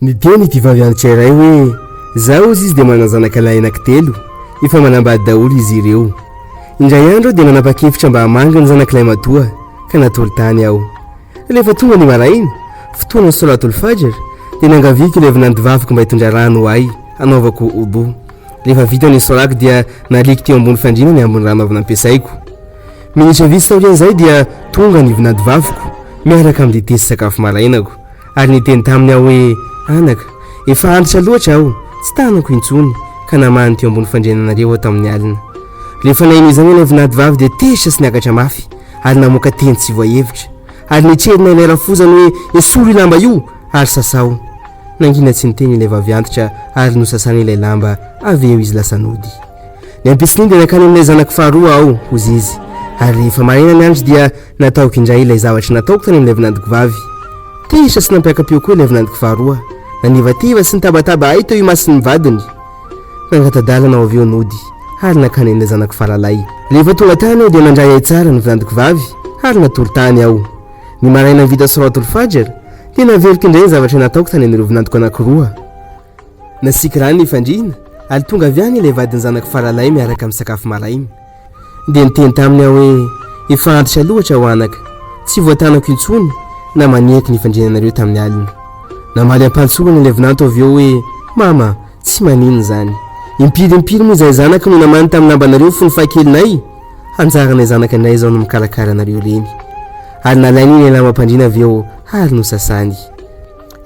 ny diany ity vavianitra iray hoe zaho ozy izy dia manazanaka lahy anakitelo efa manambady daholo izy ireo indray andro dia nanapa-kevitra mba hamangy ny zanakilay matoa ka natory tany aho rehefa tonga ny maraina fotoana solatolo fajar dia nangaviako ilay vinantivaviko mba hitondra rano ho ahy hanaovako obo rehefa vita ny solako dia naliako teo ambony fandriana ny ambony rano avy nampiasaiko Minitra vitsy taorian'izay dia tonga ny vinantovaviko miaraka amin'ny dite sy sakafo marainako ary niteny taminy aho hoe, Anaka, efa antitra loatra aho, tsy tanako intsony, ka namahany teo ambony fandriananareo aho tamin'ny alina. Rehefa naheno izany ilay vinantovavy dia tezitra sy niakatra mafy ary namoaka teny tsy voahevitra, ary nitrerona ilay rafozany hoe, Esory io lamba io ary sasao. Nangina tsy niteny ilay vavy antitra ary nosasany ilay lamba, avy eo izy lasa nody. Ny ampitson'iny dia nankany amin'ilay zanako faharoa aho, hozy izy. Ary rehefa maraina ny andro dia nataoko indray ilay zavatra nataoko tany amin'ilay vinantoko vavy. Tezitra sy nampiaka-peo koa ilay vinantoko faharoa. Nanivativa sy nitabataba ahy teo imason'ny vadiny. Nangata-dalana ho avy eo nody ary nankany amin'ilay zanako faralahy. Rehefa tonga tany aho dia nandray ahy tsara ny vinantoko vavy ary natory tany aho. Ny maraina vita Solat-ul-Fajr dia naveriko indray ny zavatra nataoko tany amin'ireo vinantoko anankiroa. Nasikirany ny fandriana ary tonga avy any ilay vadin'ny zanako faralahy miaraka amin'ny sakafo maraina. Dia niteny taminy aho hoe, Efa antitra loatra aho anaka, tsy voatanako intsony na maniaky ny fandriananareo tamin'ny alina. Namaly am-pahantsorana ilay vinanto avy eo hoe, Mama, tsy maninona izany. Impiry impiry moa izahay zanaka no namaly tamin'ny lambanareo fony fahakelinay? Anjaranay zanaka indray izao ny mikarakara anareo ireny. Ary nalainy ilay lambam-pandriana avy eo ary nosasany.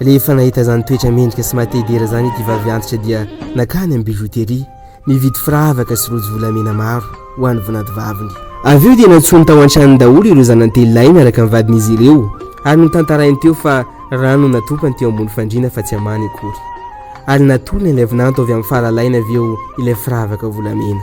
Rehefa nahita izany toetra mendrika sy mahatehidera izany ity vavy antitra dia nankany amin'ny bijouterie nividy firavaka sy rojo volamena maro ho an'ny vinantovaviny. Avy eo dia nantsoiny tao an-tranony daholo ireo zanany-telo lahy miaraka amin'ny vadin'izy ireo ary notantarainy teo fa rano no natopany teo ambony fandriana fa tsy amany akory. Ary natolony ilay vinanto avy amin'ny faralainy avy eo ilay firavaka volamena.